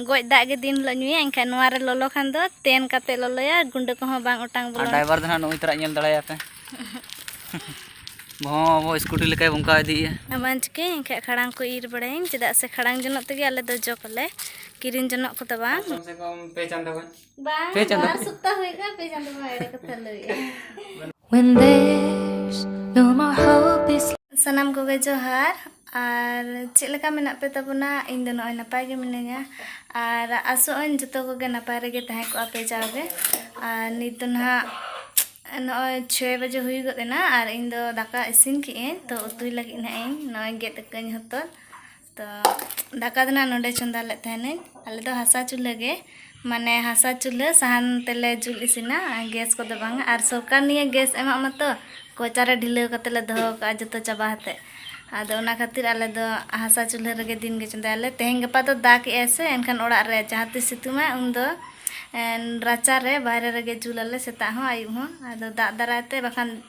ᱜᱚᱡ ᱫᱟᱜ ᱜᱮ ᱫᱤᱱ ᱦᱤᱞᱳᱜ ᱧᱩᱭᱟ ᱮᱱᱠᱷᱟᱱ ᱱᱚᱣᱟ ᱨᱮ ᱞᱚᱞᱚ ᱠᱷᱟᱱ ᱫᱚ ᱛᱮᱱ ᱠᱟᱛᱮ ᱞᱚᱞᱚᱭᱟ ᱜᱩᱸᱰᱟᱹ ᱠᱚᱦᱚᱸ ᱵᱟᱝ ᱚᱴᱟᱝ ᱵᱚᱞᱚᱱᱟ ᱰᱟᱭᱵᱟᱨ ᱫᱚ ᱦᱟᱸᱜ ᱱᱩᱭ ᱛᱟᱨᱟᱜ ᱧᱮᱞ ᱫᱟᱲᱮᱭᱟᱯᱮ ᱵᱚᱦᱚᱸ ᱟᱵᱚ ᱥᱠᱩᱴᱤ ᱞᱮᱠᱟᱭ ᱵᱚᱝᱠᱟ ᱤᱫᱤᱭᱮᱜᱼᱟ ᱟᱢᱟᱱ ᱪᱤᱠᱟᱹ ᱮᱱᱠᱷᱟᱱ ᱠᱷᱟᱲᱟᱝ ᱠᱚ ᱤᱨ ᱵᱟᱲᱟᱭᱟᱹᱧ ᱪᱮᱫᱟᱜ ᱥᱮ ᱠᱷᱟᱲᱟᱝ ᱡᱚᱱᱚᱜ ᱛᱮᱜᱮ ᱟᱞᱮ ᱫᱚ ᱡᱚᱜᱽ ᱟᱞᱮ ᱠᱤᱨᱤᱧ ᱡᱚᱱᱚᱜ ᱠᱚᱫᱚ ᱵᱟᱝ ᱠᱚᱢ ᱥᱮ ᱠᱚᱢ ᱯᱮ ᱪᱟᱸᱫᱚ ᱜᱟᱱ ᱵᱟᱝ ᱯᱮ ᱪᱟᱸᱫᱚ ᱵᱟᱨ ᱥᱚᱯᱛᱟ ᱦᱩᱭ ᱠᱟᱱᱟ ᱯᱮ ᱪᱟᱸᱫᱚ ᱢᱟ ᱮᱲᱮ ᱠᱟᱛᱷᱟ ᱞᱟᱹᱭᱮᱜᱼᱟ When there's no more hope is ᱥᱟᱱᱟᱢ ᱠᱚᱜᱮ ᱡᱚᱦᱟᱨ ᱟᱨ ᱪᱮᱫ ᱞᱮᱠᱟ ᱢᱮᱱᱟᱜ ᱯᱮ ᱛᱟᱵᱚᱱᱟ ᱤᱧ ᱫᱚ ᱱᱚᱜᱼᱚᱭ ᱱᱟᱯᱟᱭ ᱜᱮ ᱢᱤᱱᱟᱹᱧᱟ ᱟᱨ ᱟᱥᱚᱜ ᱟᱹᱧ ᱡᱚᱛᱚ ᱠᱚᱜᱮ ᱱᱟᱯᱟᱭ ᱨᱮᱜᱮ ᱛᱟᱦᱮᱸ ᱠᱚᱜᱼᱟ ᱯᱮ ᱡᱟᱣᱜᱮ ᱟᱨ ᱱᱤᱛ ᱫᱚ ᱱᱟᱦᱟᱜ ᱱᱚᱜᱼᱚᱭ ᱪᱷᱚᱭ ᱵᱟᱡᱮ ᱦᱩᱭ ᱜᱚᱫ ᱮᱱᱟ ᱟᱨ ᱤᱧ ᱫᱚ ᱫᱟᱠᱟ ᱤᱥᱤᱱ ᱠᱮᱜ ᱟᱹᱧ ᱛᱚ ᱩᱛᱩᱭ ᱞᱟᱹᱜᱤᱫ ᱱᱟᱦᱟᱜ ᱤᱧ ᱱᱚᱜᱼᱚᱭ ᱜᱮᱫ ᱟᱠᱟᱹᱧ ᱦᱚᱛᱚᱫ ᱛᱚ ᱫᱟᱠᱟ ᱫᱚ ᱱᱟᱜ ᱱᱚᱰᱮ ᱪᱚᱸᱫᱟ ᱞᱮᱫ ᱛᱟᱦᱮᱱᱟᱹᱧ ᱟᱞᱮ ᱫᱚ ᱦᱟᱥᱟ ᱪᱩᱞᱦᱟᱹ ᱜᱮ ᱢᱟᱱᱮ ᱦᱟᱥᱟ ᱪᱩᱞᱦᱟᱹ ᱥᱟᱦᱟᱱ ᱛᱮᱞᱮ ᱡᱩᱞ ᱤᱥᱤᱱᱟ ᱜᱮᱥ ᱠᱚᱫᱚ ᱵᱟᱝᱟ ᱟᱨ ᱥᱚᱨᱠᱟᱨ ᱱᱤᱭᱟᱹ ᱜᱮᱥ ᱮᱢᱟᱜ ᱢᱟᱛᱚ ᱠᱚᱭᱪᱟ ᱨᱮ ᱰᱷᱤᱞᱟᱹᱣ ᱠᱟᱛᱮᱫ ᱞᱮ ᱫᱚᱦᱚ ᱠᱟᱜᱼᱟ ᱡᱚᱛᱚ ᱪᱟᱵᱟ ᱠᱟᱛᱮᱫ ᱟᱫᱚ ᱚᱱᱟ ᱠᱷᱟᱹᱛᱤᱨ ᱟᱞᱮ ᱫᱚ ᱦᱟᱥᱟ ᱪᱩᱞᱦᱟᱹ ᱨᱮᱜᱮ ᱫᱤᱱ ᱜᱮ ᱪᱚᱸᱫᱟᱭᱟᱞᱮ ᱛᱮᱦᱮᱧ ᱜᱟᱯᱟ ᱫᱚ ᱫᱟᱜᱽ ᱮᱜ ᱟᱭ ᱥᱮ ᱮᱱᱠᱷᱟᱱ ᱚᱲᱟᱜ ᱨᱮ ᱡᱟᱦᱟᱸ ᱛᱤᱥ ᱥᱤᱛᱩᱝ ᱟᱭ ᱩᱱ ᱫᱚ ᱨᱟᱪᱟ ᱨᱮ ᱵᱟᱦᱨᱮ ᱨᱮᱜᱮ ᱡᱩᱞ ᱟᱞᱮ ᱥᱮᱛᱟᱜ ᱦᱚᱸ ᱟᱹᱭᱩᱵ ᱦᱚᱸ ᱟᱫᱚ ᱫᱟᱜ ᱫᱟᱨᱟᱭ ᱛᱮ ᱵᱟᱠᱷᱟᱱ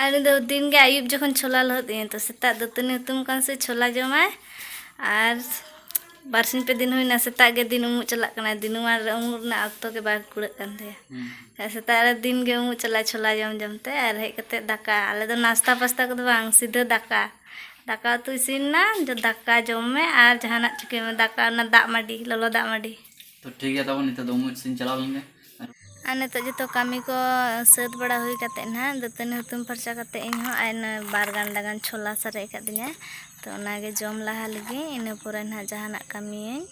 ᱟᱨ ᱩᱱᱤ ᱫᱚ ᱫᱤᱱ ᱜᱮ ᱟᱹᱭᱩᱵ ᱡᱚᱠᱷᱚᱱ ᱪᱷᱳᱞᱟ ᱞᱚᱦᱚᱫ ᱤᱧᱟᱹ ᱛᱚ ᱥᱮᱛᱟᱜ ᱫᱟᱹᱛᱟᱹᱱᱤ ᱦᱩᱛᱩᱢ ᱠᱟᱱ ᱥᱮ ᱪᱷᱳᱞᱟ ᱡᱚᱢᱟᱭ ᱟᱨ ᱵᱟᱨ ᱥᱤᱧ ᱯᱮ ᱫᱤᱱ ᱦᱩᱭᱱᱟ ᱥᱮᱛᱟᱜ ᱜᱮ ᱫᱤᱱ ᱩᱢᱩᱜ ᱪᱟᱞᱟᱜ ᱠᱟᱱᱟᱭ ᱫᱤᱱᱩᱢᱟᱱ ᱨᱮ ᱩᱢᱩᱜ ᱨᱮᱱᱟᱜ ᱚᱠᱛᱚ ᱜᱮ ᱵᱟᱝ ᱠᱩᱲᱟᱹᱜ ᱠᱟᱱ ᱛᱟᱭᱟ ᱟᱨ ᱥᱮᱛᱟᱜ ᱨᱮ ᱫᱤᱱ ᱜᱮ ᱩᱢᱩᱜ ᱪᱟᱞᱟᱜᱼᱟᱭ ᱪᱷᱳᱞᱟ ᱡᱚᱢ ᱡᱚᱢ ᱛᱮ ᱟᱨ ᱦᱮᱡ ᱠᱟᱛᱮ ᱫᱟᱠᱟ ᱟᱞᱮ ᱫᱚ ᱱᱟᱥᱛᱟ ᱯᱟᱥᱛᱟ ᱠᱚᱫᱚ ᱵᱟᱝ ᱥᱤᱫᱷᱟᱹ ᱫᱟᱠᱟ ᱫᱟᱠᱟ ᱩᱛᱩ ᱤᱥᱤᱱ ᱮᱱᱟ ᱫᱟᱠᱟ ᱡᱚᱢ ᱢᱮ ᱟᱨ ᱡᱟᱦᱟᱱᱟᱜ ᱪᱤᱠᱟᱹᱭ ᱢᱮ ᱫᱟᱠᱟ ᱚᱱᱟ ᱫᱟᱜ ᱢᱟᱹᱰᱤ ᱞᱚᱞᱚ ᱫᱟᱜ ᱢᱟᱹᱰᱤ ᱛᱚ ᱴᱷᱤᱠ ᱜᱮᱭᱟ ᱛᱟᱵᱚᱱ ᱱᱤᱛᱚᱜ ᱫᱚ ᱩᱢᱩᱜ ᱥᱮᱫ ᱤᱧ ᱪᱟᱞᱟᱣ ᱞᱮᱱᱜᱮ ᱟᱨ ᱱᱤᱛᱚᱜ ᱡᱚᱛᱚ ᱠᱟᱹᱢᱤ ᱠᱚ ᱥᱟᱹᱛ ᱵᱟᱲᱟ ᱦᱩᱭ ᱠᱟᱛᱮᱫ ᱱᱟᱦᱟᱜ ᱫᱟᱹᱛᱟᱹᱱᱤ ᱦᱩᱛᱩᱢ ᱯᱷᱟᱨᱪᱟ ᱠᱟᱛᱮᱫ ᱤᱧ ᱦᱚᱸ ᱟᱭ ᱵᱟᱨ ᱜᱟᱱᱰᱟ ᱜᱟᱱ ᱪᱷᱚᱞᱟ ᱥᱟᱨᱮᱡ ᱟᱠᱟᱫᱤᱧᱟ ᱛᱚ ᱚᱱᱟᱜᱮ ᱡᱚᱢ ᱞᱟᱦᱟ ᱞᱮᱜᱮ ᱤᱱᱟᱹ ᱯᱚᱨᱮ ᱱᱟᱦᱟᱜ ᱡᱟᱦᱟᱱᱟᱜ ᱠᱟᱹᱢᱤᱭᱟᱹᱧ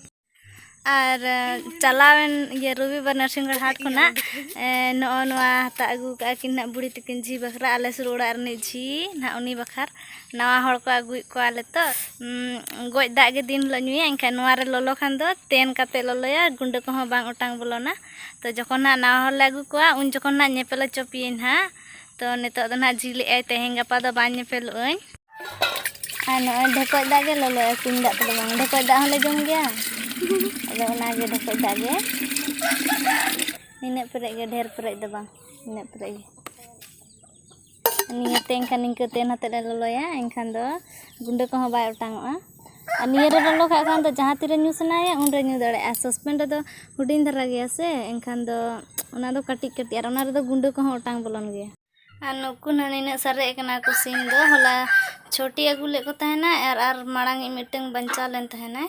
ᱟᱨ ᱪᱟᱞᱟᱣᱮᱱ ᱤᱭᱟᱹ ᱨᱚᱵᱤᱵᱟᱨ ᱱᱟᱨᱥᱤᱝᱜᱚᱲ ᱦᱟᱴ ᱠᱷᱚᱱᱟᱜ ᱱᱚᱜᱼᱚ ᱱᱚᱣᱟ ᱦᱟᱛᱟᱣ ᱟᱹᱜᱩ ᱠᱟᱜᱼᱟ ᱠᱤᱱ ᱱᱟᱦᱟᱜ ᱵᱩᱲᱦᱤ ᱛᱤᱠᱤᱱ ᱡᱷᱤ ᱵᱟᱠᱷᱨᱟ ᱟᱞᱮ ᱥᱩᱨ ᱚᱲᱟᱜ ᱨᱤᱱᱤᱡ ᱡᱷᱤ ᱱᱟᱦᱟᱜ ᱩᱱᱤ ᱵᱟᱠᱷᱨᱟ ᱱᱟᱣᱟ ᱦᱚᱲ ᱠᱚ ᱟᱹᱜᱩᱭᱮᱫ ᱠᱚᱣᱟ ᱟᱞᱮ ᱛᱚ ᱜᱚᱡ ᱫᱟᱜ ᱜᱮ ᱫᱤᱱ ᱦᱤᱞᱳᱜ ᱧᱩᱭᱟ ᱮᱱᱠᱷᱟᱱ ᱱᱚᱣᱟ ᱨᱮ ᱞᱚᱞᱚ ᱠᱷᱟᱱ ᱫᱚ ᱛᱮᱱ ᱠᱟᱛᱮ ᱞᱚᱞᱚᱭᱟ ᱜᱩᱰᱟᱹ ᱠᱚᱦᱚᱸ ᱵᱟᱝ ᱚᱴᱟᱝ ᱵᱚᱞᱚᱱᱟ ᱛᱚ ᱡᱚᱠᱷᱚᱱ ᱱᱟᱜ ᱱᱟᱣᱟ ᱦᱚᱲ ᱞᱮ ᱟᱹᱜᱩ ᱠᱚᱣᱟ ᱩᱱ ᱡᱚᱠᱷᱚᱱ ᱱᱟᱜ ᱧᱮᱯᱮᱞ ᱦᱚᱪᱚ ᱯᱮᱭᱟᱹᱧ ᱱᱟᱜ ᱛᱚ ᱱᱤᱛᱚᱜ ᱫᱚ ᱱᱟᱜ ᱡᱷᱤᱡ ᱞᱮᱜᱼᱟᱭ ᱛᱮᱦᱮᱧ ᱜᱟᱯᱟ ᱫᱚ ᱵᱟᱝ ᱧᱮᱯᱮᱞᱚᱜ ᱟᱹᱧ ᱟᱨ ᱱᱚᱜᱼᱚᱭ ᱰᱷᱮᱠᱚᱡ ᱫᱟᱜ ᱜᱮ ᱞᱚᱞᱚᱭᱟ ᱠᱩᱧ ᱫᱟᱜ ᱛᱮᱫᱚ ᱵᱟᱝ ᱰᱷᱮᱠᱚᱡ ᱫᱟᱜ ᱦᱚᱸᱞᱮ ᱡᱚᱢ ᱜᱮᱭᱟ ᱟᱫᱚ ᱚᱱᱟᱜᱮ ᱰᱷᱮᱠᱚᱡ ᱫᱟᱜ ᱜᱮ ᱱᱤᱱᱟᱹᱜ ᱯᱮᱨᱮᱡ ᱜᱮ ᱰᱷᱮᱨ ᱯᱮᱨᱮᱡ ᱫᱚ ᱵᱟᱝ ᱱᱤᱱᱟᱹᱜ ᱯᱮᱨᱮᱡ ᱜᱮ ᱱᱤᱭᱟᱹᱛᱮ ᱮᱱᱠᱷᱟᱱ ᱱᱤᱝᱠᱟᱹ ᱛᱮᱱ ᱟᱛᱮᱫ ᱞᱮ ᱞᱚᱞᱚᱭᱟ ᱮᱱᱠᱷᱟᱱ ᱫᱚ ᱜᱩᱸᱰᱟᱹ ᱠᱚᱦᱚᱸ ᱵᱟᱭ ᱚᱴᱟᱝ ᱚᱜᱼᱟ ᱟᱨ ᱱᱤᱭᱟᱹ ᱨᱮ ᱞᱚᱞᱚ ᱠᱟᱜ ᱠᱷᱟᱱ ᱫᱚ ᱡᱟᱦᱟᱸ ᱛᱤᱨᱮ ᱧᱩ ᱥᱟᱱᱟᱭᱮᱭᱟ ᱩᱱ ᱨᱮ ᱧᱩ ᱫᱟᱲᱮᱭᱟᱜᱼᱟ ᱟᱨ ᱥᱚᱥᱯᱮᱱ ᱨᱮᱫᱚ ᱦᱩᱰᱤᱧ ᱫᱷᱟᱨᱟ ᱜᱮᱭᱟ ᱥᱮ ᱮᱱᱠᱷᱟᱱ ᱫᱚ ᱚᱱᱟ ᱫᱚ ᱠᱟᱹᱴᱤᱡ ᱠᱟᱹᱴᱤᱡ ᱟᱨ ᱚᱱᱟ ᱨᱮᱫᱚ ᱜᱩᱸᱰᱟᱹ ᱠᱚᱦᱚᱸ ᱚᱴᱟᱝ ᱵᱚᱞᱚᱱ ᱜᱮᱭᱟ ᱟᱨ ᱱᱩᱠᱩ ᱦᱟᱸᱜ ᱱᱤᱱᱟᱹᱜ ᱥᱟᱨᱮᱡ ᱠᱟᱱᱟ ᱠᱚ ᱥᱤᱢ ᱫᱚ ᱦᱚᱞᱟ ᱪᱷᱚᱴᱤ ᱟᱹᱜᱩ ᱞᱮᱫ ᱠᱚ ᱛᱟᱦᱮᱱᱟ ᱟᱨ ᱟᱨ ᱢᱟᱲᱟᱝ ᱤᱡ ᱢᱤᱫᱴᱟᱹᱝ ᱵᱟᱧᱪᱟᱣ ᱞᱮᱱ ᱛᱟᱦᱮᱱᱟᱭ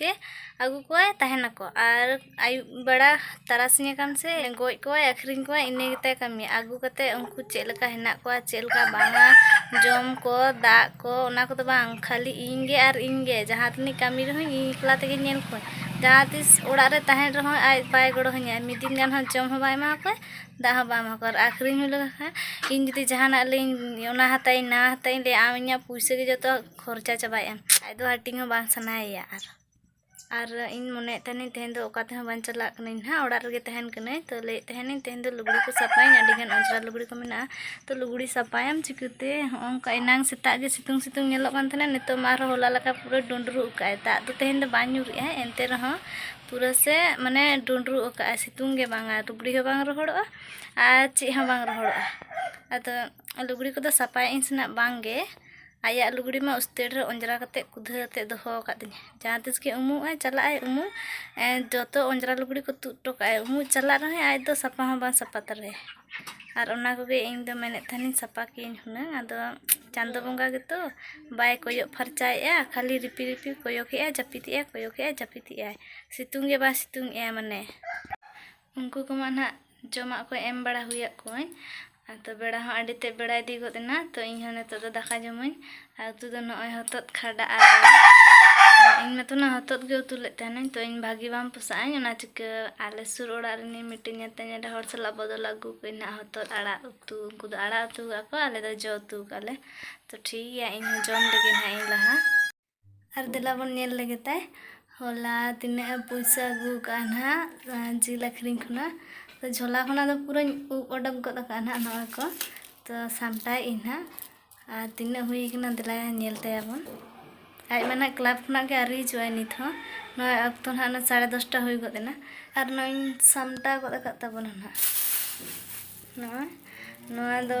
ᱜᱮ ᱟᱹᱜᱩ ᱠᱚᱣᱟᱭ ᱛᱟᱦᱮᱱᱟᱠᱚ ᱟᱨ ᱟᱹᱭᱩᱵ ᱵᱮᱲᱟ ᱛᱟᱨᱟᱥᱤᱧ ᱟᱠᱟᱱ ᱥᱮ ᱜᱚᱡ ᱠᱚᱣᱟᱭ ᱟᱹᱠᱷᱨᱤᱧ ᱠᱚᱣᱟᱭ ᱤᱱᱟᱹ ᱜᱮᱛᱟᱭ ᱠᱟᱹᱢᱤ ᱟᱹᱜᱩ ᱠᱟᱛᱮ ᱩᱱᱠᱩ ᱪᱮᱫ ᱞᱮᱠᱟ ᱦᱮᱱᱟᱜ ᱠᱚᱣᱟ ᱪᱮᱫ ᱞᱮᱠᱟ ᱵᱟᱝᱟ ᱡᱚᱢ ᱠᱚ ᱫᱟᱜ ᱠᱚ ᱚᱱᱟ ᱠᱚᱫᱚ ᱵᱟᱝ ᱠᱷᱟᱹᱞᱤ ᱤᱧ ᱜᱮ ᱟᱨ ᱤᱧ ᱜᱮ ᱡᱟᱦᱟᱸ ᱛᱤᱱᱟᱹᱜ ᱠᱟᱹᱢᱤ ᱨᱮᱦᱚᱸ ᱤᱧ ᱮᱠᱞᱟ ᱛᱮᱜᱮ ᱧᱮᱞ ᱠᱚᱣᱟᱹᱧ ᱡᱟᱦᱟᱸ ᱛᱤᱥ ᱚᱲᱟᱜ ᱨᱮ ᱛᱟᱦᱮᱱ ᱨᱮᱦᱚᱸ ᱟᱡ ᱵᱟᱭ ᱜᱚᱲᱚ ᱟᱹᱧᱟ ᱢᱤᱫ ᱫᱤᱱ ᱜᱟᱱ ᱦᱚᱸ ᱡᱚᱢ ᱦᱚᱸ ᱵᱟᱭ ᱮᱢᱟ ᱠᱚᱣᱟ ᱫᱟᱜ ᱦᱚᱸ ᱵᱟᱭ ᱮᱢᱟ ᱠᱚᱣᱟ ᱟᱨ ᱟᱹᱠᱷᱨᱤᱧ ᱦᱩᱭ ᱞᱮᱠᱚ ᱠᱷᱟᱱ ᱤᱧ ᱡᱩᱫᱤ ᱡᱟᱦᱟᱱᱟᱜ ᱞᱟᱹᱭᱟᱹᱧ ᱚᱱᱟ ᱦᱟᱛᱟᱣ ᱤᱧ ᱱᱚᱣᱟ ᱦᱟᱛᱟᱣ ᱤᱧ ᱞᱟᱹᱭᱟ ᱟᱢ ᱤᱧᱟᱹᱜ ᱯᱩᱭᱥᱟᱹ ᱜᱮ ᱡᱚᱛᱚ ᱠᱷᱚᱨᱪᱟ ᱪᱟᱵᱟᱭᱮᱫ ᱟᱢ ᱟᱡ ᱫᱚ ᱦᱟᱹᱴᱤᱧ ᱦᱚᱸ ᱵᱟᱝ ᱥᱟᱱᱟᱭᱮᱭᱟ ᱟᱨ ᱟᱨ ᱤᱧ ᱢᱚᱱᱮᱭᱮᱫ ᱛᱟᱦᱮᱱᱤᱧ ᱛᱮᱦᱮᱧ ᱫᱚ ᱚᱠᱟ ᱛᱮᱦᱚᱸ ᱵᱟᱝ ᱪᱟᱞᱟᱜ ᱠᱟᱹᱱᱟᱹᱧ ᱦᱟᱸᱜ ᱚᱲᱟᱜ ᱨᱮᱜᱮ ᱛᱟᱦᱮᱱ ᱠᱟᱹᱱᱟᱹᱧ ᱛᱚ ᱞᱟᱹᱭᱮᱫ ᱛᱟᱦᱮᱱᱤᱧ ᱛᱮᱦᱮᱧ ᱫᱚ ᱞᱩᱜᱽᱲᱤ ᱠᱚ ᱥᱟᱯᱷᱟᱭᱟᱹᱧ ᱟᱹᱰᱤ ᱜᱟᱱ ᱚᱡᱽᱨᱟ ᱞᱩᱜᱽᱲᱤ ᱠᱚ ᱢᱮᱱᱟᱜᱼᱟ ᱛᱚ ᱞᱩᱜᱽᱲᱤ ᱥᱟᱯᱷᱟᱭᱟᱢ ᱪᱤᱠᱟᱹᱛᱮ ᱦᱚᱸᱜᱼᱚ ᱱᱚᱝᱠᱟ ᱮᱱᱟᱝ ᱥᱮᱛᱟᱜ ᱜᱮ ᱥᱤᱛᱩᱝ ᱥᱤᱛᱩᱝ ᱧᱮᱞᱚᱜ ᱠᱟᱱ ᱛᱟᱦᱮᱱᱟ ᱱᱤᱛᱚᱜ ᱢᱟ ᱟᱨᱦᱚᱸ ᱦᱚᱞᱟ ᱞᱮᱠᱟ ᱯᱩᱨᱟᱹ ᱰᱩᱸᱰᱨᱩᱜ ᱟᱠᱟᱫᱼᱟᱭ ᱫᱟᱜ ᱫᱚ ᱛᱮᱦᱮᱧ ᱫᱚ ᱵᱟᱝ ᱧᱩᱨᱮᱜᱼᱟᱭ ᱮᱱᱛᱮ ᱨᱮᱦᱚᱸ ᱯᱩᱨᱟᱹ ᱥᱮ ᱢᱟᱱᱮ ᱰᱩᱸᱰᱨᱩᱜ ᱟᱠᱟᱫᱼᱟᱭ ᱥᱤᱛᱩᱝ ᱜᱮ ᱵᱟᱝᱟ ᱞᱩᱜᱽᱲᱤ ᱦᱚᱸ ᱵᱟᱝ ᱨᱚᱦᱚᱲᱚᱜᱼᱟ ᱟᱨ ᱪᱮᱫ ᱦᱚᱸ ᱵᱟᱝ ᱨᱚᱦᱚᱲᱚᱜᱼᱟ ᱟᱫᱚ ᱞᱩᱜᱽᱲᱤ ᱠᱚᱫᱚ ᱥᱟᱯᱷᱟᱭᱮᱫ ᱟᱹᱧ ᱥᱮ ᱱᱟᱜ ᱵᱟᱝᱜᱮ ᱟᱭᱟᱜ ᱞᱩᱜᱽᱲᱤ ᱢᱟ ᱩᱥᱛᱟᱹᱨ ᱨᱮ ᱚᱸᱡᱽᱨᱟ ᱠᱟᱛᱮᱫ ᱠᱩᱫᱷᱟᱹ ᱟᱛᱮᱫ ᱫᱚᱦᱚ ᱟᱠᱟᱫ ᱛᱤᱧᱟᱹ ᱡᱟᱦᱟᱸ ᱛᱤᱥ ᱜᱮ ᱩᱢᱩᱜ ᱟᱭ ᱪᱟᱞᱟᱜ ᱟᱭ ᱩᱢᱩᱜ ᱡᱚᱛᱚ ᱚᱸᱡᱽᱨᱟ ᱞᱩᱜᱽᱲᱤ ᱠᱚ ᱛᱩᱫ ᱦᱚᱴᱚ ᱠᱟᱜ ᱟᱭ ᱩᱢᱩᱜ ᱪᱟᱞᱟᱜ ᱨᱮᱦᱚᱸᱭ ᱟᱡ ᱫᱚ ᱥᱟᱯᱷᱟ ᱦᱚᱸ ᱵᱟᱝ ᱥᱟᱯᱷᱟ ᱛᱟᱞᱮᱭᱟᱭ ᱟᱨ ᱚᱱᱟ ᱠᱚᱜᱮ ᱤᱧ ᱫᱚ ᱢᱮᱱᱮᱫ ᱛᱟᱦᱮᱱᱤᱧ ᱥᱟᱯᱷᱟ ᱠᱮᱭᱟᱹᱧ ᱦᱩᱱᱟᱹᱝ ᱟᱫᱚ ᱪᱟᱸᱫᱚ ᱵᱚᱸᱜᱟ ᱜᱮᱛᱚ ᱵᱟᱭ ᱠᱚᱭᱚᱜ ᱯᱷᱟᱨᱪᱟᱭᱮᱫᱼᱟ ᱠᱷᱟᱹᱞᱤ ᱨᱤᱯᱤ ᱨᱤᱯᱤ ᱠᱚᱭᱚᱜᱮᱫᱼᱟᱭ ᱡᱟᱹᱯᱤᱫᱮᱜᱼᱟᱭ ᱠᱚᱭᱚᱜᱮᱫᱼᱟᱭ ᱡᱟᱹᱯᱤᱫᱮᱜᱼᱟᱭ ᱥᱤᱛᱩᱝ ᱜᱮ ᱵᱟᱭ ᱥᱤᱛᱩᱝᱮᱫᱼᱟ ᱢᱟᱱᱮ ᱩᱱᱠᱩ ᱠᱚᱢᱟ ᱱᱟᱜ ᱡᱚᱢᱟᱜ ᱠᱚ ᱮᱢ ᱵᱟᱲᱟ ᱦᱩᱭᱟᱫ ᱠᱚᱣᱟᱹᱧ ᱟᱫᱚ ᱵᱮᱲᱟ ᱦᱚᱸ ᱟᱹᱰᱤ ᱛᱮᱫ ᱵᱮᱲᱟ ᱤᱫᱤ ᱜᱚᱫ ᱮᱱᱟ ᱛᱚ ᱤᱧ ᱦᱚᱸ ᱱᱤᱛᱚᱜ ᱫᱚ ᱫᱟᱠᱟ ᱡᱚᱢᱟᱹᱧ ᱟᱨ ᱩᱛᱩ ᱫᱚ ᱱᱚᱜᱼᱚᱭ ᱦᱚᱛᱚᱫ ᱠᱷᱟᱰᱟ ᱟᱨ ᱤᱧ ᱢᱟᱛᱚ ᱱᱟᱜ ᱦᱚᱛᱚᱫ ᱜᱮ ᱩᱛᱩ ᱞᱮᱫ ᱛᱟᱦᱮᱱᱟᱹᱧ ᱛᱚ ᱤᱧ ᱵᱷᱟᱹᱜᱤ ᱵᱟᱝ ᱯᱚᱥᱟᱜ ᱟᱹᱧ ᱚᱱᱟ ᱪᱤᱠᱟᱹ ᱟᱞᱮ ᱥᱩᱨ ᱚᱲᱟᱜ ᱨᱤᱱᱤᱡ ᱢᱤᱫᱴᱮᱱ ᱧᱮᱛᱮᱧ ᱮᱨᱟ ᱦᱚᱲ ᱥᱟᱞᱟᱜ ᱵᱚᱫᱚᱞ ᱟᱹᱜᱩ ᱠᱟᱹᱧ ᱱᱟᱜ ᱦᱚᱛᱚᱫ ᱟᱲᱟᱜ ᱩᱛᱩ ᱩᱱᱠᱩ ᱫᱚ ᱟᱲᱟᱜ ᱩᱛᱩ ᱠᱟᱜᱼᱟ ᱠᱚ ᱟᱞᱮ ᱫᱚ ᱡᱚ ᱩᱛᱩ ᱠᱟᱜᱼᱟ ᱞᱮ ᱛᱚ ᱴᱷᱤᱠ ᱜᱮᱭᱟ ᱤᱧ ᱦᱚᱸ ᱡᱚᱢ ᱞᱮᱜᱮ ᱱᱟᱜ ᱤᱧ ᱞᱟᱦᱟ ᱟᱨ ᱫᱮᱞᱟ ᱵᱚᱱ ᱧᱮᱞ ᱞᱮᱜᱮ ᱛᱟᱭ ᱦᱚᱞᱟ ᱛᱤᱱᱟᱹᱜ ᱮ ᱯᱩᱭᱥᱟᱹ ᱟᱹᱜᱩ ᱟᱠᱟᱫᱼᱟ ᱱᱟᱦᱟᱜ ᱡᱤᱞ ᱟᱹᱠᱷᱨᱤᱧ ᱠᱷᱚᱱᱟᱜ ᱛᱚ ᱡᱷᱚᱞᱟ ᱠᱷᱚᱱᱟᱜ ᱫᱚ ᱯᱩᱨᱟᱹᱧ ᱩᱵ ᱚᱰᱚᱠ ᱜᱚᱫ ᱟᱠᱟᱫᱼᱟ ᱱᱟᱦᱟᱜ ᱱᱚᱜᱼᱚᱭ ᱠᱚ ᱛᱚ ᱥᱟᱢᱴᱟᱣᱮᱫ ᱟᱹᱧ ᱱᱟᱦᱟᱜ ᱟᱨ ᱛᱤᱱᱟᱹᱜ ᱦᱩᱭ ᱟᱠᱟᱱᱟ ᱫᱮᱞᱟ ᱧᱮᱞ ᱛᱟᱭᱟᱵᱚᱱ ᱟᱡ ᱢᱟ ᱱᱟᱦᱟᱜ ᱠᱞᱟᱵᱽ ᱠᱷᱚᱱᱟᱜ ᱜᱮ ᱟᱹᱣᱨᱤ ᱦᱤᱡᱩᱜᱼᱟᱭ ᱱᱤᱛ ᱦᱚᱸ ᱱᱚᱜᱼᱚᱭ ᱚᱠᱛᱚ ᱱᱟᱦᱟᱜ ᱚᱱᱟ ᱥᱟᱲᱮ ᱫᱚᱥᱴᱟ ᱦᱩᱭ ᱜᱚᱫ ᱮᱱᱟ ᱟᱨ ᱱᱚᱜᱼᱚᱭ ᱤᱧ ᱥᱟᱢᱴᱟᱣ ᱜᱚᱫ ᱟᱠᱟᱫ ᱛᱟᱵᱚᱱᱟ ᱱᱟᱦᱟᱜ ᱱᱚᱜᱼᱚᱭ ᱱᱚᱣᱟ ᱫᱚ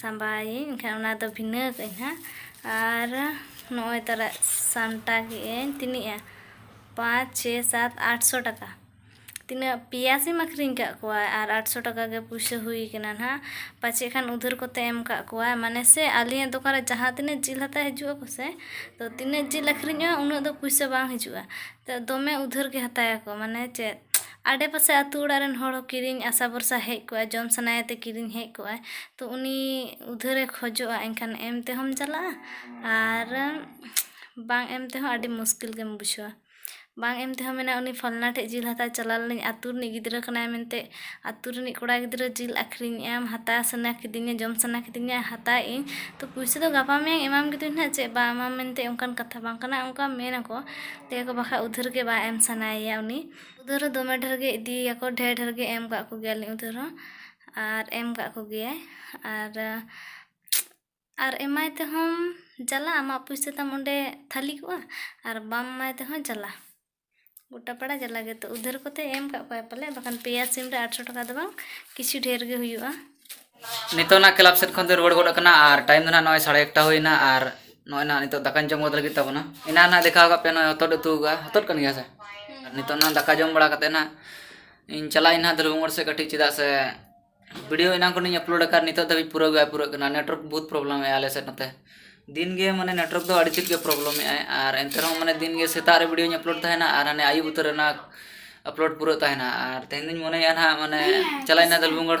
ᱥᱟᱢᱵᱟᱣᱟᱹᱧ ᱮᱱᱠᱷᱟᱱ ᱚᱱᱟ ᱫᱚ ᱵᱷᱤᱱᱟᱹ ᱠᱟᱜ ᱟᱹᱧ ᱦᱟᱸᱜ ᱟᱨ ᱱᱚᱜᱼᱚᱭ ᱛᱟᱨᱟ ᱥᱟᱢᱴᱟᱣ ᱠᱮᱜ ᱟᱹᱧ ᱛᱤᱱᱟᱹᱜᱼᱟ ᱯᱟᱸᱪ ᱪᱷᱮ ᱥᱟᱛ ᱟᱴᱥᱚ ᱴᱟᱠᱟ ᱛᱤᱱᱟᱹᱜ ᱯᱮᱭᱟ ᱥᱤᱢ ᱟᱹᱠᱷᱨᱤᱧ ᱠᱟᱜ ᱠᱚᱣᱟ ᱟᱨ ᱟᱴᱥᱚ ᱴᱟᱠᱟ ᱜᱮ ᱯᱩᱭᱥᱟᱹ ᱦᱩᱭ ᱠᱟᱱᱟ ᱦᱟᱸᱜ ᱯᱟᱪᱮᱫ ᱠᱷᱟᱱ ᱩᱫᱷᱟᱹᱨ ᱠᱚᱛᱮ ᱮᱢ ᱠᱟᱜ ᱠᱚᱣᱟ ᱢᱟᱱᱮ ᱥᱮ ᱟᱹᱞᱤᱧᱟᱜ ᱫᱚᱠᱟᱱ ᱨᱮ ᱡᱟᱦᱟᱸ ᱛᱤᱱᱟᱹᱜ ᱡᱤᱞ ᱦᱟᱛᱟᱣ ᱦᱤᱡᱩᱜ ᱟᱠᱚ ᱥᱮ ᱛᱚ ᱛᱤᱱᱟᱹᱜ ᱡᱤᱞ ᱟᱹᱠᱷᱨᱤᱧᱚᱜᱼᱟ ᱩᱱᱟᱹᱜ ᱫᱚ ᱯᱩᱭᱥᱟᱹ ᱵᱟᱝ ᱦᱤᱡᱩᱜᱼᱟ ᱫᱚᱢᱮ ᱩᱫᱷᱟᱹᱨ ᱜᱮ ᱦᱟᱛᱟᱣ ᱟᱠᱚ ᱢᱟᱱᱮ ᱪᱮᱫ ᱟᱰᱮ ᱯᱟᱥᱮ ᱟᱛᱳ ᱚᱲᱟᱜ ᱨᱮᱱ ᱦᱚᱲ ᱦᱚᱸ ᱠᱤᱨᱤᱧ ᱟᱥᱟ ᱵᱷᱚᱨᱥᱟ ᱦᱮᱡ ᱠᱚᱜᱼᱟ ᱡᱚᱢ ᱥᱟᱱᱟᱭᱮ ᱛᱮ ᱠᱤᱨᱤᱧ ᱦᱮᱡ ᱠᱚᱜᱼᱟᱭ ᱛᱚ ᱩᱱᱤ ᱩᱫᱷᱟᱹᱨᱮ ᱠᱷᱚᱡᱚᱜᱼᱟ ᱮᱱᱠᱷᱟᱱ ᱮᱢ ᱛᱮᱦᱚᱸᱢ ᱡᱟᱞᱟᱜᱼᱟ ᱟᱨ ᱵᱟᱝ ᱮᱢ ᱛᱮᱦᱚᱸ ᱟᱹᱰᱤ ᱢᱩᱥᱠᱤᱞ ᱜᱮᱢ ᱵᱩᱡᱷᱟᱹᱣᱟ ᱵᱟᱝ ᱮᱢ ᱛᱮᱦᱚᱸ ᱢᱮᱱᱟᱭ ᱩᱱᱤ ᱯᱷᱟᱞᱱᱟ ᱴᱷᱮᱡ ᱡᱤᱞ ᱦᱟᱛᱟᱣ ᱪᱟᱞᱟᱣ ᱞᱮᱱᱟᱹᱧ ᱟᱛᱳ ᱨᱤᱱᱤᱡ ᱜᱤᱫᱽᱨᱟᱹ ᱠᱟᱱᱟᱭ ᱢᱮᱱᱛᱮ ᱟᱛᱳ ᱨᱤᱱᱤᱡ ᱠᱚᱲᱟ ᱜᱤᱫᱽᱨᱟᱹ ᱡᱤᱞ ᱟᱹᱠᱷᱨᱤᱧᱮᱜᱼᱟᱢ ᱦᱟᱛᱟᱣ ᱥᱟᱱᱟ ᱠᱤᱫᱤᱧᱟ ᱡᱚᱢ ᱥᱟᱱᱟ ᱠᱤᱫᱤᱧᱟ ᱦᱟᱛᱟᱣᱮᱜᱼᱟᱹᱧ ᱛᱚ ᱯᱩᱭᱥᱟᱹ ᱫᱚ ᱜᱟᱯᱟ ᱢᱮᱭᱟᱝ ᱮᱢᱟᱢ ᱜᱮᱫᱚᱧ ᱱᱟᱜ ᱪᱮᱫ ᱵᱟᱝ ᱮᱢᱟᱢ ᱢᱮᱱᱛᱮ ᱚᱱᱠᱟᱱ ᱠᱟᱛᱷᱟ ᱵᱟᱝ ᱠᱟᱱᱟ ᱚᱱᱠᱟ ᱢᱮᱱᱟᱠᱚ ᱞᱟᱹᱭᱟᱠᱚ ᱵᱟᱠᱷᱟᱡ ᱩᱫᱷᱟᱹᱨ ᱜᱮ ᱵᱟᱝ ᱮᱢ ᱥᱟᱱᱟᱭᱮᱭᱟ ᱩᱱᱤ ᱩᱫᱷᱟᱹᱨ ᱦᱚᱸ ᱫᱚᱢᱮ ᱰᱷᱮᱨ ᱜᱮ ᱤᱫᱤᱭᱟᱠᱚ ᱰᱷᱮᱨ ᱰᱷᱮᱨ ᱜᱮ ᱮᱢ ᱠᱟᱜ ᱠᱚᱜᱮᱭᱟᱞᱤᱧ ᱩᱫᱷᱟᱹᱨ ᱦᱚᱸ ᱟᱨ ᱮᱢ ᱠᱟᱜ ᱠᱚᱜᱮᱭᱟᱭ ᱟᱨ ᱟᱨ ᱮᱢᱟᱭ ᱛᱮᱦᱚᱸ ᱡᱟᱞᱟ ᱟᱢᱟᱜ ᱯᱩᱭᱥᱟᱹ ᱛᱟᱢ ᱚᱸᱰᱮ ᱛᱷᱟᱹᱞᱤ ᱠᱚᱜᱼᱟ ᱟᱨ ᱵᱟᱢ ᱮᱢᱟᱭ ᱛᱮᱦᱚᱸ ᱡᱟᱞᱟ ᱜᱚᱴᱟ ᱯᱟᱲᱟ ᱡᱟᱞᱟ ᱜᱮᱛᱚ ᱩᱫᱷᱟᱹᱨ ᱠᱚᱛᱮ ᱮᱢ ᱠᱟᱜ ᱠᱚᱣᱟᱭ ᱯᱟᱞᱮ ᱵᱟᱠᱷᱟᱱ ᱯᱮᱭᱟ ᱥᱤᱢ ᱨᱮ ᱟᱴᱥᱚ ᱴᱟᱠᱟ ᱫᱚ ᱵᱟᱝ ᱠᱤᱪᱷᱩ ᱰᱷᱮᱨ ᱜᱮ ᱦᱩᱭᱩᱜᱼᱟ ᱱᱤᱛᱚᱜ ᱱᱟᱜ ᱠᱞᱟᱵᱽ ᱥᱮᱫ ᱠᱷᱚᱱ ᱫᱚ ᱨᱩᱣᱟᱹᱲ ᱜᱚᱫ ᱟᱠᱟᱱᱟ ᱟᱨ ᱴᱟᱭᱤᱢ ᱫᱚ ᱱᱟᱜ ᱱᱚᱜᱼᱚᱭ ᱥᱟᱲᱮ ᱮᱠᱴᱟ ᱦᱩᱭᱱᱟ ᱟᱨ ᱱᱚᱜᱼᱚᱭ ᱱᱟᱜ ᱱᱤᱛᱚᱜ ᱫᱟᱠᱟᱧ ᱡᱚᱢ ᱜᱚᱫ ᱞᱟᱹᱜᱤᱫ ᱛᱟᱵᱚᱱᱟ ᱮᱱᱟᱱ ᱱᱟᱜ ᱫᱮᱠᱷᱟᱣ ᱠᱟᱜ ᱯᱮᱭᱟ ᱱᱚᱜᱼᱚᱭ ᱦᱚᱛᱚᱫ ᱩᱛᱩ ᱟᱠᱟᱫᱼᱟ ᱦᱚᱛᱚᱫ ᱠᱟᱱ ᱜᱮᱭᱟ ᱥᱮ ᱟᱨ ᱱᱤᱛᱚᱜ ᱱᱟᱜ ᱫᱟᱠᱟ ᱡᱚᱢ ᱵᱟᱲᱟ ᱠᱟᱛᱮᱫ ᱱᱟᱜ ᱤᱧ ᱪᱟᱞᱟᱜ ᱟᱹᱧ ᱱᱟᱜ ᱫᱷᱨᱩᱵ ᱢᱳᱲ ᱥᱮᱫ ᱠᱟᱹᱴᱤᱡ ᱪᱮᱫᱟᱜ ᱥᱮ ᱵᱷᱤᱰᱤᱭᱳ ᱮᱱᱟᱝ ᱠᱷᱚᱱᱤᱧ ᱟᱯᱞᱳᱰ ᱟᱠᱟᱫ ᱱᱤᱛᱚᱜ ᱫᱷᱟᱹᱵᱤᱡ ᱯᱩᱨᱟᱹᱣ ᱜᱮ ᱵᱟᱭ ᱯᱩᱨᱟᱹᱜ ᱠᱟᱱᱟ ᱱᱮᱴᱣᱟᱨᱠ ᱵᱚᱦᱩᱛ ᱯᱨᱚᱵᱞᱮᱢ ᱮᱫᱟᱭ ᱟᱞᱮ ᱥᱮᱫ ᱱᱚᱛᱮ ᱫᱤᱱ ᱜᱮ ᱢᱟᱱᱮ ᱱᱮᱴᱣᱟᱨᱠ ᱫᱚ ᱟᱹᱰᱤ ᱛᱮᱫ ᱜᱮ ᱯᱨᱚᱵᱞᱮᱢ ᱮᱫᱟᱭ ᱟᱨ ᱮᱱᱛᱮ ᱨᱮᱦᱚᱸ ᱢᱟᱱᱮ ᱫᱤᱱ ᱜᱮ ᱥᱮᱛᱟᱜ ᱨᱮ ᱵᱷᱤᱰᱤᱭᱳᱧ ᱟᱯᱞᱳᱰ ᱛᱟᱦᱮᱱᱟ ᱟᱨ ᱦᱟᱱᱮ ᱟᱹᱭᱩᱵ ᱩᱛᱟᱹᱨ ᱨᱮ ᱱᱟᱜ ᱟᱯᱞᱳᱰ ᱯᱩᱨᱟᱹᱜ ᱛᱟᱦᱮᱱᱟ ᱟᱨ ᱛᱮᱦᱮᱧ ᱫᱚᱧ ᱢᱚᱱᱮᱭᱮᱫᱼᱟ ᱱᱟᱜ ᱢᱟᱱᱮ ᱪᱟᱞᱟᱜ ᱟᱹᱧ ᱱᱟᱜ ᱫᱷᱩᱞᱵᱷᱩᱢᱜᱚᱲ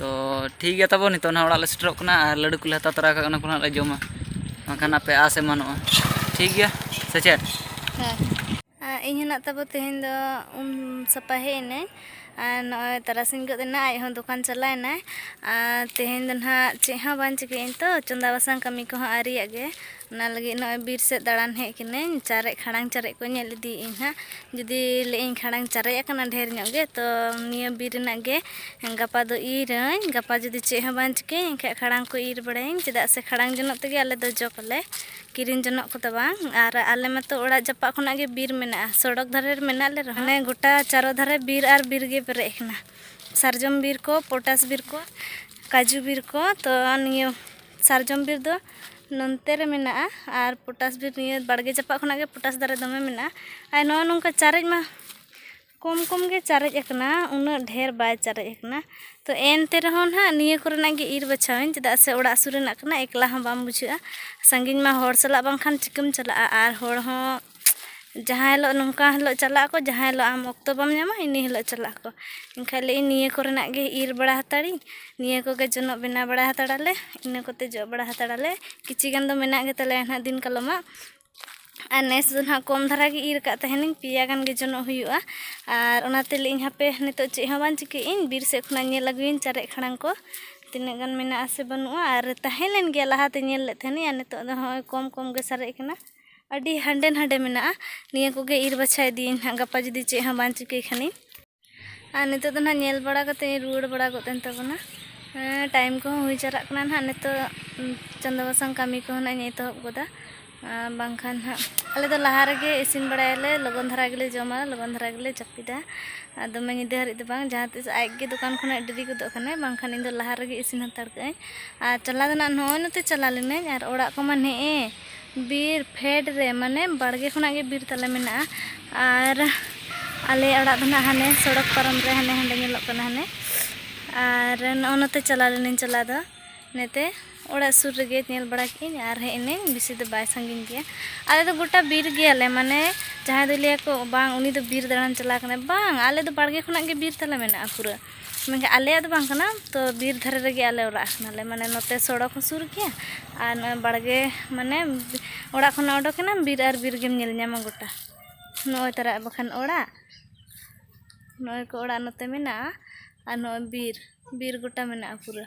ᱛᱚ ᱴᱷᱤᱠ ᱜᱮᱭᱟ ᱛᱟᱵᱚ ᱱᱤᱛᱚᱜ ᱱᱟᱦᱟᱜ ᱚᱲᱟᱜ ᱞᱮ ᱥᱮᱴᱮᱨᱚᱜ ᱠᱟᱱᱟ ᱟᱨ ᱞᱟᱹᱰᱩ ᱠᱚᱞᱮ ᱦᱟᱛᱟᱣ ᱛᱚᱨᱟ ᱠᱟᱜ ᱠᱟᱱᱟ ᱚᱱᱟ ᱠᱚ ᱱᱟᱦᱟᱜ ᱞᱮ ᱡᱚᱢᱟ ᱵᱟᱝᱠᱷᱟᱱ ᱟᱯᱮ ᱟᱥ ᱮᱢᱟᱱᱚᱜᱼᱟ ᱴᱷᱤᱠ ᱜᱮᱭᱟ ᱥᱮ ᱪᱮᱫ ᱦᱮᱸ ᱤᱧ ᱦᱚᱸ ᱱᱟᱜ ᱛᱟᱵᱚ ᱛᱮᱦᱮᱧ ᱫᱚ ᱩᱢ ᱥᱟᱯᱷᱟ ᱦᱮᱡ ᱮᱱᱟᱹᱧ ᱟᱨ ᱱᱚᱜᱼᱚᱭ ᱛᱟᱨᱟᱥᱤᱧ ᱜᱚᱫ ᱮᱱᱟ ᱟᱡ ᱦᱚᱸ ᱫᱚᱠᱟᱱ ᱪᱟᱞᱟᱣ ᱮᱱᱟᱭ ᱟᱨ ᱛᱮᱦᱮᱧ ᱫᱚ ᱱᱟᱦᱟᱜ ᱪᱮᱫ ᱦᱚᱸ ᱵᱟᱝ ᱪᱤᱠᱟᱹᱭᱟᱹᱧ ᱛᱚ ᱪᱚᱸᱫᱟ ᱵᱟᱥᱟᱝ ᱠᱟᱹᱢᱤ ᱠᱚᱦᱚᱸ ᱟᱹᱣᱨᱤᱭᱟᱜ ᱜᱮ ᱚᱱᱟ ᱞᱟᱹᱜᱤᱫ ᱱᱚᱜᱼᱚᱭ ᱵᱤᱨ ᱥᱮᱫ ᱫᱟᱬᱟᱱ ᱦᱮᱡ ᱠᱟᱹᱱᱟᱹᱧ ᱪᱟᱨᱮᱡ ᱠᱷᱟᱲᱟᱝ ᱪᱟᱨᱮᱡ ᱠᱚ ᱧᱮᱞ ᱤᱫᱤᱭᱮᱫ ᱟᱹᱧ ᱦᱟᱸᱜ ᱡᱩᱫᱤ ᱞᱟᱹᱭᱮᱫ ᱟᱹᱧ ᱠᱷᱟᱲᱟᱝ ᱪᱟᱨᱮᱡ ᱟᱠᱟᱱᱟ ᱰᱷᱮᱨ ᱧᱚᱜ ᱜᱮ ᱛᱚ ᱱᱤᱭᱟᱹ ᱵᱤᱨ ᱨᱮᱱᱟᱜ ᱜᱮ ᱜᱟᱯᱟ ᱫᱚ ᱤᱨᱟᱹᱧ ᱜᱟᱯᱟ ᱡᱩᱫᱤ ᱪᱮᱫ ᱦᱚᱸ ᱵᱟᱝ ᱪᱤᱠᱟᱹᱭᱟᱹᱧ ᱮᱱᱠᱷᱟᱡ ᱠᱷᱟᱲᱟᱝ ᱠᱚ ᱤᱨ ᱵᱟᱲᱟᱭᱟᱹᱧ ᱪᱮᱫᱟᱜ ᱥᱮ ᱠᱷᱟᱲᱟᱝ ᱡᱚᱱᱚᱜ ᱛᱮᱜᱮ ᱟᱞᱮ ᱫᱚ ᱡᱚᱜᱽ ᱟᱞᱮ ᱠᱤᱨᱤᱧ ᱡᱚᱱᱚᱜ ᱠᱚᱫᱚ ᱵᱟᱝ ᱟᱨ ᱟᱞᱮ ᱢᱟᱛᱚ ᱚᱲᱟᱜ ᱡᱟᱯᱟᱜ ᱠᱷᱚᱱᱟᱜ ᱜᱮ ᱵᱤᱨ ᱢᱮᱱᱟᱜᱼᱟ ᱥᱚᱲᱚᱠ ᱫᱷᱟᱨᱮ ᱨᱮ ᱢᱮᱱᱟᱜ ᱞᱮ ᱨᱮᱦᱚᱸ ᱢᱟᱱᱮ ᱜᱚᱴᱟ ᱪᱟᱨᱚ ᱫᱷᱟᱨᱮ ᱵᱤᱨ ᱟᱨ ᱵᱤᱨ ᱜᱮ ᱯᱮᱨᱮᱡ ᱟᱠᱟᱱᱟ ᱥᱟᱨᱡᱚᱢ ᱵᱤᱨ ᱠᱚ ᱯᱚᱴᱟᱥ ᱵᱤᱨ ᱠᱚ ᱠᱟᱡᱩ ᱵᱤᱨ ᱠᱚ ᱛᱚ ᱱᱤᱭᱟᱹ ᱥᱟᱨᱡᱚᱢ ᱵᱤᱨ ᱫᱚ ᱱᱚᱱᱛᱮ ᱨᱮ ᱢᱮᱱᱟᱜᱼᱟ ᱟᱨ ᱯᱚᱴᱟᱥ ᱵᱤᱨ ᱱᱤᱭᱟᱹ ᱵᱟᱲᱜᱮ ᱡᱟᱯᱟᱜ ᱠᱷᱚᱱᱟᱜ ᱜᱮ ᱯᱚᱴᱟᱥ ᱫᱟᱨᱮ ᱫᱚᱢᱮ ᱢᱮᱱᱟᱜᱼᱟ ᱟᱨ ᱱᱚᱜᱼᱚᱭ ᱱᱚᱝᱠᱟ ᱪᱟᱨᱮᱡ ᱢᱟ ᱠᱚᱢ ᱠᱚᱢ ᱜᱮ ᱪᱟᱨᱮᱡ ᱟᱠᱟᱱᱟ ᱩᱱᱟᱹᱜ ᱰᱷᱮᱨ ᱵᱟᱭ ᱪᱟᱨᱮᱡ ᱟᱠᱟᱱᱟ ᱛᱚ ᱮᱱᱛᱮ ᱨᱮᱦᱚᱸ ᱱᱟᱦᱟᱜ ᱱᱤᱭᱟᱹ ᱠᱚᱨᱮᱱᱟᱜ ᱜᱮ ᱤᱨ ᱵᱟᱪᱷᱟᱣ ᱟᱹᱧ ᱪᱮᱫᱟᱜ ᱥᱮ ᱚᱲᱟᱜ ᱥᱩᱨ ᱨᱮᱱᱟᱜ ᱠᱟᱱᱟ ᱮᱠᱞᱟ ᱦᱚᱸ ᱵᱟᱢ ᱵᱩᱡᱷᱟᱹᱜᱼᱟ ᱥᱟᱺᱜᱤᱧ ᱢᱟ ᱦᱚᱲ ᱥᱟᱞᱟᱜ ᱵᱟᱝᱠᱷᱟᱱ ᱪᱤᱠᱟᱹᱢ ᱪᱟᱞᱟᱜᱼᱟ ᱟᱨ ᱦᱚᱲ ᱦᱚᱸ ᱡᱟᱦᱟᱸ ᱦᱤᱞᱳᱜ ᱱᱚᱝᱠᱟ ᱦᱤᱞᱳᱜ ᱪᱟᱞᱟᱜ ᱟᱠᱚ ᱡᱟᱦᱟᱸ ᱦᱤᱞᱳᱜ ᱟᱢ ᱚᱠᱛᱚ ᱵᱟᱢ ᱧᱟᱢᱟ ᱤᱱᱟᱹ ᱦᱤᱞᱳᱜ ᱪᱟᱞᱟᱜ ᱟᱠᱚ ᱮᱱᱠᱷᱟᱱ ᱞᱟᱹᱭᱮᱫᱟᱹᱧ ᱱᱤᱭᱟᱹ ᱠᱚᱨᱮᱱᱟᱜ ᱜᱮ ᱤᱨ ᱵᱟᱲᱟ ᱦᱟᱛᱟᱲᱤᱧ ᱱᱤᱭᱟᱹ ᱠᱚᱜᱮ ᱡᱚᱱᱚᱜ ᱵᱮᱱᱟᱣ ᱵᱟᱲᱟ ᱦᱟᱛᱟᱲᱟᱞᱮ ᱤᱱᱟᱹ ᱠᱚᱛᱮ ᱡᱚᱜ ᱵᱟᱲᱟ ᱦᱟᱛᱟᱲᱟᱞᱮ ᱠᱤᱪᱷᱤ ᱜᱟᱱ ᱫᱚ ᱢᱮᱱᱟᱜ ᱜᱮᱛᱟᱞᱮᱭᱟ ᱱᱟᱦᱟᱜ ᱫᱤᱱ ᱠᱟᱞᱚᱢᱟᱜ ᱟᱨ ᱱᱮᱥ ᱫᱚ ᱱᱟᱦᱟᱜ ᱠᱚᱢ ᱫᱷᱟᱨᱟ ᱜᱮ ᱤᱨ ᱟᱠᱟᱫ ᱛᱟᱦᱮᱱᱤᱧ ᱯᱮᱭᱟ ᱜᱟᱱ ᱜᱮ ᱡᱚᱱᱚᱜ ᱦᱩᱭᱩᱜᱼᱟ ᱟᱨ ᱚᱱᱟᱛᱮ ᱞᱟᱹᱭᱮᱫᱟᱹᱧ ᱦᱟᱯᱮ ᱱᱤᱛᱳᱜ ᱪᱮᱫ ᱦᱚᱸ ᱵᱟᱝ ᱪᱤᱠᱟᱹᱭᱮᱫ ᱟᱹᱧ ᱵᱤᱨ ᱥᱮᱫ ᱠᱷᱚᱱᱟᱜ ᱧᱮᱞ ᱟᱹᱜᱩᱭᱟᱹᱧ ᱪᱟᱨᱮᱡ ᱠᱷᱟᱲᱟᱝ ᱠᱚ ᱛᱤᱱᱟᱹᱜ ᱜᱟᱱ ᱢᱮᱱᱟᱜᱼᱟ ᱥᱮ ᱵᱟᱹᱱᱩᱜᱼᱟ ᱟᱨ ᱛᱟᱦᱮᱸ ᱞᱮᱱ ᱜᱮᱭᱟ ᱞᱟᱦᱟᱛᱮ ᱧᱮᱞ ᱞᱮᱫ ᱛᱟᱦᱮᱱᱤᱧ ᱟᱨ ᱱᱤᱛᱳᱜ ᱫᱚ ᱱᱚᱜᱼᱚᱭ ᱠᱚᱢ ᱠᱚᱢ ᱜᱮ ᱥᱟᱨᱮᱡ ᱟᱠᱟᱱᱟ ᱟᱹᱰᱤ ᱦᱟᱸᱰᱮ ᱱᱟᱰᱮ ᱢᱮᱱᱟᱜᱼᱟ ᱱᱤᱭᱟᱹ ᱠᱚᱜᱮ ᱤᱨ ᱵᱟᱪᱷᱟ ᱤᱫᱤᱭᱟᱹᱧ ᱦᱟᱸᱜ ᱜᱟᱯᱟ ᱡᱩᱫᱤ ᱪᱮᱫ ᱦᱚᱸ ᱵᱟᱝ ᱪᱤᱠᱟᱹᱭ ᱠᱷᱟᱱᱤᱧ ᱟᱨ ᱱᱤᱛᱚᱜ ᱫᱚ ᱱᱟᱦᱟᱜ ᱧᱮᱞ ᱵᱟᱲᱟ ᱠᱟᱛᱮ ᱤᱧ ᱨᱩᱣᱟᱹᱲ ᱵᱟᱲᱟ ᱜᱚᱫ ᱮᱱ ᱛᱟᱵᱚᱱᱟ ᱴᱟᱭᱤᱢ ᱠᱚᱦᱚᱸ ᱦᱩᱭ ᱪᱟᱞᱟᱜ ᱠᱟᱱᱟ ᱱᱟᱦᱟᱜ ᱱᱤᱛᱚᱜ ᱪᱚᱸᱫᱟ ᱵᱟᱥᱟᱝ ᱠᱟᱹᱢᱤ ᱠᱚᱦᱚᱸ ᱱᱟᱦᱟᱜ ᱤᱧ ᱮᱛᱚᱦᱚᱵ ᱜᱚᱫᱟ ᱵᱟᱝᱠᱷᱟᱱ ᱱᱟᱦᱟᱜ ᱟᱞᱮ ᱫᱚ ᱞᱟᱦᱟ ᱨᱮᱜᱮ ᱤᱥᱤᱱ ᱵᱟᱲᱟᱭᱟᱞᱮ ᱞᱚᱜᱚᱱ ᱫᱷᱟᱨᱟ ᱜᱮᱞᱮ ᱡᱚᱢᱟ ᱞᱚᱜᱚᱱ ᱫᱷᱟᱨᱟ ᱜᱮᱞᱮ ᱡᱟᱹᱯᱤᱫᱟ ᱟᱨ ᱫᱚᱢᱮ ᱧᱤᱫᱟᱹ ᱦᱟᱹᱨᱤᱡ ᱫᱚ ᱵᱟᱝ ᱡᱟᱦᱟᱸ ᱛᱤᱥ ᱟᱡ ᱜᱮ ᱫᱚᱠᱟᱱ ᱠᱷᱚᱱᱟᱜ ᱰᱮᱨᱤ ᱜᱚᱫᱚᱜ ᱠᱟᱱᱟᱭ ᱵᱟᱝᱠᱷᱟᱱ ᱤᱧ ᱫᱚ ᱞᱟᱦᱟ ᱨᱮᱜᱮ ᱤᱥᱤᱱ ᱦᱟᱛᱟᱲ ᱠᱟᱜ ᱟᱹᱧ ᱟᱨ ᱪᱟᱞᱟᱣ ᱫᱚ ᱱᱟᱦᱟᱜ ᱱᱚᱜᱼᱚᱭ ᱱᱚᱛᱮ ᱪᱟᱞᱟᱣ ᱞᱮᱱᱟᱹᱧ ᱟᱨ ᱚᱲᱟᱜ ᱠᱚᱢᱟ ᱱᱮᱜᱼᱮ ᱵᱤᱨ ᱯᱷᱮᱰ ᱨᱮ ᱢᱟᱱᱮ ᱵᱟᱲᱜᱮ ᱠᱷᱚᱱᱟᱜ ᱜᱮ ᱵᱤᱨ ᱛᱟᱞᱮ ᱢᱮᱱᱟᱜᱼᱟ ᱟᱨ ᱟᱞᱮ ᱚᱲᱟᱜ ᱫᱚ ᱱᱟᱦᱟᱜ ᱦᱟᱱᱮ ᱥᱚᱲᱚᱠ ᱯᱟᱨᱚᱢ ᱨᱮ ᱦᱟᱱᱮ ᱦᱟᱸᱰᱮ ᱧᱮᱞᱚᱜ ᱠᱟᱱᱟ ᱦᱟᱱᱮ ᱟᱨ ᱱᱚᱜᱼᱚ ᱱᱚᱛᱮ ᱪᱟᱞᱟᱣ ᱞᱮᱱᱟᱹᱧ ᱪᱟᱞᱟᱣ ᱫᱚ ᱱᱮᱛᱮ ᱚᱲᱟᱜ ᱥᱩᱨ ᱨᱮᱜᱮ ᱧᱮᱞ ᱵᱟᱲᱟ ᱠᱮᱫᱟᱹᱧ ᱟᱨ ᱦᱮᱡ ᱮᱱᱟᱹᱧ ᱵᱮᱥᱤ ᱫᱚ ᱵᱟᱭ ᱥᱟᱺᱜᱤᱧ ᱜᱮᱭᱟ ᱟᱞᱮ ᱫᱚ ᱜᱚᱴᱟ ᱵᱤᱨ ᱜᱮᱭᱟᱞᱮ ᱢᱟᱱᱮ ᱡᱟᱦᱟᱸᱭ ᱫᱚ ᱞᱟᱹᱭᱟᱠᱚ ᱵᱟᱝ ᱩᱱᱤ ᱫᱚ ᱵᱤᱨ ᱫᱟᱬᱟᱱ ᱪᱟᱞᱟᱣ ᱠᱟᱱᱟᱭ ᱵᱟᱝ ᱟᱞᱮ ᱫᱚ ᱵᱟᱲᱜᱮ ᱠᱷᱚᱱᱟᱜ ᱜᱮ ᱵᱤᱨ ᱛᱟᱞᱮ ᱢᱮᱱᱟᱜᱼᱟ ᱯᱩᱨᱟᱹ ᱢᱮᱱᱠᱷᱟᱱ ᱟᱞᱮᱭᱟᱜ ᱫᱚ ᱵᱟᱝ ᱠᱟᱱᱟ ᱛᱚ ᱵᱤᱨ ᱫᱷᱟᱨᱮ ᱨᱮᱜᱮ ᱟᱞᱮ ᱚᱲᱟᱜ ᱠᱟᱱᱟᱞᱮ ᱢᱟᱱᱮ ᱱᱚᱛᱮ ᱥᱚᱲᱚᱠ ᱦᱚᱸ ᱥᱩᱨ ᱜᱮᱭᱟ ᱟᱨ ᱱᱚᱜᱼᱚᱭ ᱵᱟᱲᱜᱮ ᱢᱟᱱᱮ ᱚᱲᱟᱜ ᱠᱷᱚᱱᱟᱜ ᱚᱰᱚᱠᱮᱱᱟᱢ ᱵᱤᱨ ᱟᱨ ᱵᱤᱨ ᱜᱮᱢ ᱧᱮᱞ ᱧᱟᱢᱟ ᱜᱚᱴᱟ ᱱᱚᱜᱼᱚᱭ ᱛᱟᱨᱟ ᱵᱟᱠᱷᱟᱱ ᱚᱲᱟᱜ ᱱᱚᱜᱼᱚᱭ ᱠᱚ ᱚᱲᱟᱜ ᱱᱚᱛᱮ ᱢᱮᱱᱟᱜᱼᱟ ᱟᱨ ᱱᱚᱜᱼᱚᱭ ᱵᱤᱨ ᱵᱤᱨ ᱜᱚᱴᱟ ᱢᱮᱱᱟᱜᱼᱟ ᱯᱩᱨᱟᱹ